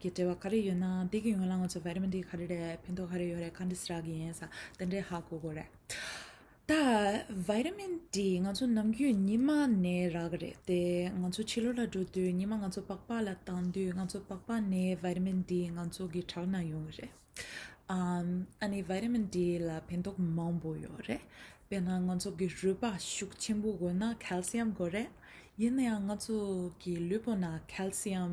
གི་འབྲེལ་བ་ག་རེ་ཡོད་ན་དེ་གི་ཡོན་ལ་ང་ཚོ་བེ་རི་མི་འདི་ག་རེ་རེད་ཕན་ཐོག་ག་རེ་ཡོད་རེད་ག་འདི་ས་ར་གི་ཡིན་ས་དེ་འདྲའི་ཧ་གོ་གོ་རེད། ད་བེ་རི་མི་འདི་ང་ཚོ་ནམ་རྒྱུན་ཉི་མ་ནས་རག་གི་རེད་དེ་ང་ཚོ་ཕྱི་ལོ་ལ་འགྲོ་དུས་ཉི་མ་ང་ཚོ་པགས་པགས་ལ་བཏང་དུས་ང་ཚོ་པགས་པགས་ནས་བེ་རི་མི་འདི་ང་ཚོ་གི་བྲག་ན་ཡོང་གི་རེད། ཨ་ཨ་ནི་བེ་རི་མི་འདི་ལ་ཕན་ཐོག་མང་པོ་ཡོད་རེད་དཔེར་ན་ང་ཚོ་གི་རུས་པ་ཤུགས་ཆེན་པོ་དགོས་ན Calcium དགོས་རེད་ཡིན་ན་ཡང་ང་ཚོ་གི་ལུས་པོ་ན Calcium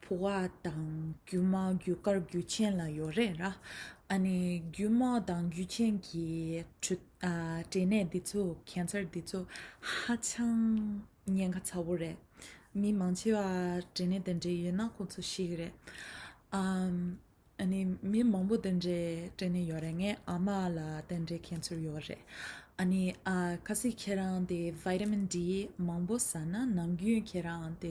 ཕོ་བ་དང་རྒྱུ་མ་རྒྱུ་སྐར་རྒྱུ་ཆེན་ལ་ཡོད་རེད་ར། ཨ་ནི་རྒྱུ་མ་དང་རྒྱུ་ཆེན་གྱི་ཁྲོད་སྐྲན་ནད་འདི་ཚོ Cancer འདི་ཚོ་ཧ་ཅང་ཉེན་ཁ་ཚ་བོ་རེད། མི་མང་ཆེ་བ་སྐྲན་ནད་དེ་འདྲས་ཡོད་ན་ཁོ་ཚོ་ཤི་རེད། ཨ་ནི་མི་མང་པོ་དེ་འདྲས་སྐྲན་ནད་ཡོད་རེད། ངའི་ཨ་མ་ལ་དེ་འདྲས Cancer ཡོད་རེད། ཨ་ནི་ཁ་སི་ཁྱེད་རང་དེ Vitamin D མང་པོ་ཟ་ན་ནང་རྒྱུན་ཁྱེད་རང་དེ་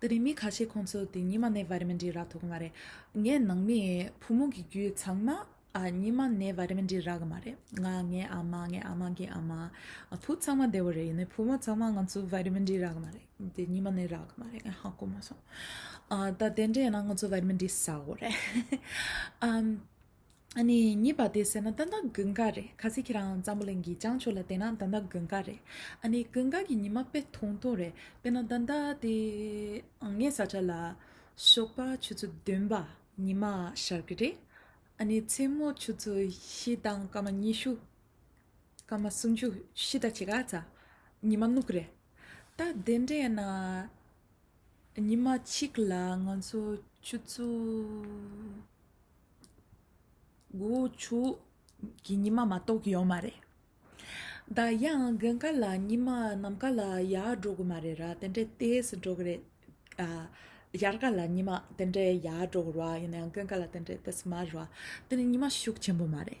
དེ་རིང་མི་ཁ་ཤས་ཁོང་ཚོ་དེ་ཉི་མ་ནས་བར་མི་འདྲི་རག་ཐུབ་གི་མ་རེད། ངའི་ནང་མི་བུ་མོ་གི་རྒྱུད་ཚང་མ་ཉི་མ་ནས་བར་མི་འདྲི་རག་གི་མ་རེད། ང་ངའི་ཨ་མ་ངའི་ཨ་མ་གི་ཨ་མ། བུ་ཚང་མ་བདེ་བོ་རེད་ཡིན་ནའི་བུ་མོ་ཚང་མ་ང་ཚོ་བར་མི་འདྲི་རག་གི་མ་རེད། དེ་ཉི་མ་ནས་རག་གི་མ་རེད་ངས་ཧ་གོ་མ་སོང། ད་དེ་འདྲ་ཡིན་ན་ང་ཚོ་བར་མི་འདྲི་ཟ་གོ་རེད། ཨ་ནི་གཉིས་པ་དེ་ཟེར་ན་ཏན་ཏན་དགུན་ཁ་རེད་ག་ཚད་ཁྱེད་རང་འཛམ་བུ་གླིང་གི་བྱང་ཕྱོགས་ལ་བལྟས་ན་ཏན་ཏན་དགུན་ཁ་རེད་ཨ་ནི་དགུན་ཁ་གི་ཉི་མ་དཔེ་ཐུང་ཐུང་རེད་དཔེར་ན་ད་ལྟ་དེ་ངའི་ས་ཆ་ལ་ཞོགས་པ་ཆུ་ཚོད་བདུན་པ་ཉི་མ་ཤར་གི་རེད་ཨ་ནི་མཚན་མོ་ཆུ་ཚོད་བཞི་དང་སྐར་མ་ཉི་ཤུ་སྐར་མ་སུམ་ཅུ་བཞི་དང་ཕྱེད་ཀ་ཙམ་ཉི་མ་སྣུག་རེད་ད་དེ་འདྲས་ན་ཉི་མ་གཅིག་ལ་ང་ཚོ་ཆུ་ཚོད་དགུ་བོ་ཆུ། གི་ཉི་མ་མ་གཏོགས་ཡོད་མ་རེད། ད་ཡང་དགུན་ཁ་ལ་ཉི་མ་ནམ་མཁའ་ལ་ཡར་འགྲོ་གི་མ་རེད་ར་དེ་འདྲའི་དལ་གྱིས་འགྲོ་གི་རེད། དབྱར་ཁ་ལ་ཉི་མ་དེ་འདྲའི་ཡར་འགྲོ་གི་རེད་ཡིན་ན་ཡང་དགུན་ཁ་ལ་དེ་འདྲའི་དལ་གྱིས་མ་རེད། དེ་ནི་ཉི་མ་ཤུགས་ཆེན་པོ་མ་རེད།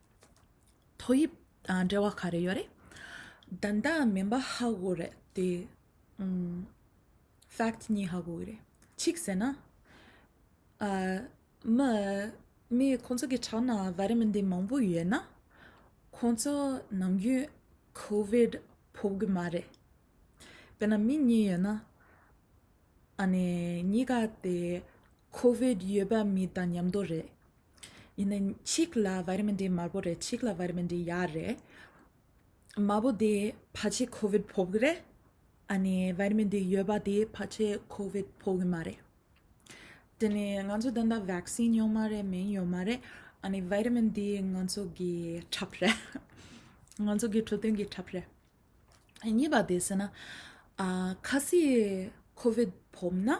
ཐོག་དབྱིབས་འབྲེལ་བ་ག་རེ་ཡོད་རེད། ད་ལྟ་མིན་པ་ཧ་གོ་རེད་དེ། fact གཉིས་ཧ་གོ་གི་རེད། གཅིག་ཟེར་ན། མི། མི་ཁོང་ཚོ་གི་ཕྲག་ན་བ་རེ་མི་འདི་མང་པོ་ཡོད་ན། ཁོང་ཚོ་ནམ་རྒྱུན COVID ཕོག་གི་མ་རེད། དཔེར་ན་མི་གཉིས་ཡོད་ན། ཨ་ནི་གཉིས་ཀ་དེ COVID ཡོད་པ་མི་དང་མཉམ་དུ་རེད། ཡིན་ནའི་ཆིག་ལ་བར་མི་འདི་དམར་པོ་རེད་ཆིག་ལ་བར་མི་འདི་ཡག་རེད། དམར་པོ་དེ་ཕ་ཆེ་ཁོ་བོད་ཕོག་གི་རེད། ཨ་ནི་བར་མི་འདི་ཡོད་པ་དེ་ཕ་ཆེ་ཁོ་བོད་ཕོག་གི་མ་རེད། དེ་ནི་ང་ཚོ་ད་ལྟ་བེག་སིན་ཡོད་མ་རེད་མིན་ཡོད་མ་རེད། ཨ་ནི་བར་མི་འདི་ང་ཚོ་གི་ཁྲབ་རེད། ང་ཚོ་གི་འཕྲོད་བསྟེན་གི་ཁྲབ་རེད། གཉིས་པ་དེ་བྱས་ན། ཁ་སིད་ཁོ་བོད་ཕོག་ན།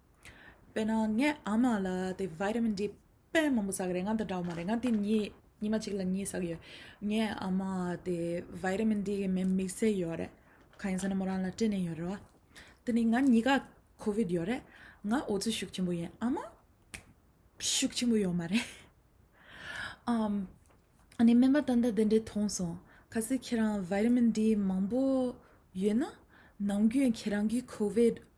དཔེར་ན་ངའི་ཨ་མ་ལ་དེ Vitamin D དཔེ་མང་པོ་ཟ་གི་རེད་ང་དང་འདྲ་བོ་མ་རེད་ང་དེ་གཉིས་ཉི་མ་གཅིག་ལ་གཉིས་ཟ་གི་ཡོད་ངའི་ཨ་མ་དེ Vitamin D གི་མེ་དམིགས་བསལ་ཡོད་རེད་གང་ཡིན་ཟེར་ན་མོ་རང་ལ་སྐྲན་ནད་ཡོད་རེད་བ་དེ་ནས་ང་གཉིས་ཀ COVID ཡོད་རེད་ང་འོ་ཆུ་ཤུགས་ཆེན་པོ་ཡིན་ཨ་མ་ཤུགས་ཆེན་པོ་ཡོད་མ་རེད་ཨ་ནི་སྨན་པ་ལྟ་འདི་འདྲའི་མཐོང་སོང་ཁ་ཟས་ཁྱེད་རང Vitamin D མང་པོ་ཡོད་ན་ནང་རྒྱུན་ཁྱེད་རང་གི COVID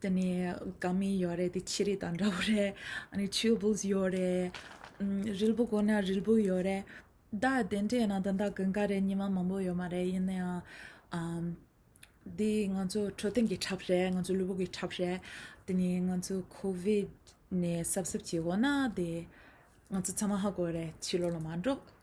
དེ་ནས་དགའ་མིན་ཡོད་རེད་དེ་ཆི་རིགས་དང་འདྲ་བོ་རེད་ཨ་ཆུ་བོས་ཡོད་རེད་རིལ་བུ་དགོས་ན་རིལ་བུ་ཡོད་རེད་ད་དེ་འདྲ་ཡིན་ན་ད་ལྟ་དགུན་ཁ་རེད་ཉི་མ་མང་པོ་ཡོད་མ་རེད་ཡིན་ན་ཡང་འདི་ང་ཚོ་འཕྲོད་བསྟེན་གྱི་ཁྲབ་རེད་ང་ཚོ་ལུས་པོ་གྱི་ཁྲབ་རེད་དེ་ནས་ང་ཚོ་ཁོ་བིད་ནས་གསབ་གསབ་བྱེད་དགོས་ན་དེ་ང་ཚོ་ཚང་མ་ཧ་གོ་རེད་ཕྱི་ལོགས་ལ་མ་འགྲོ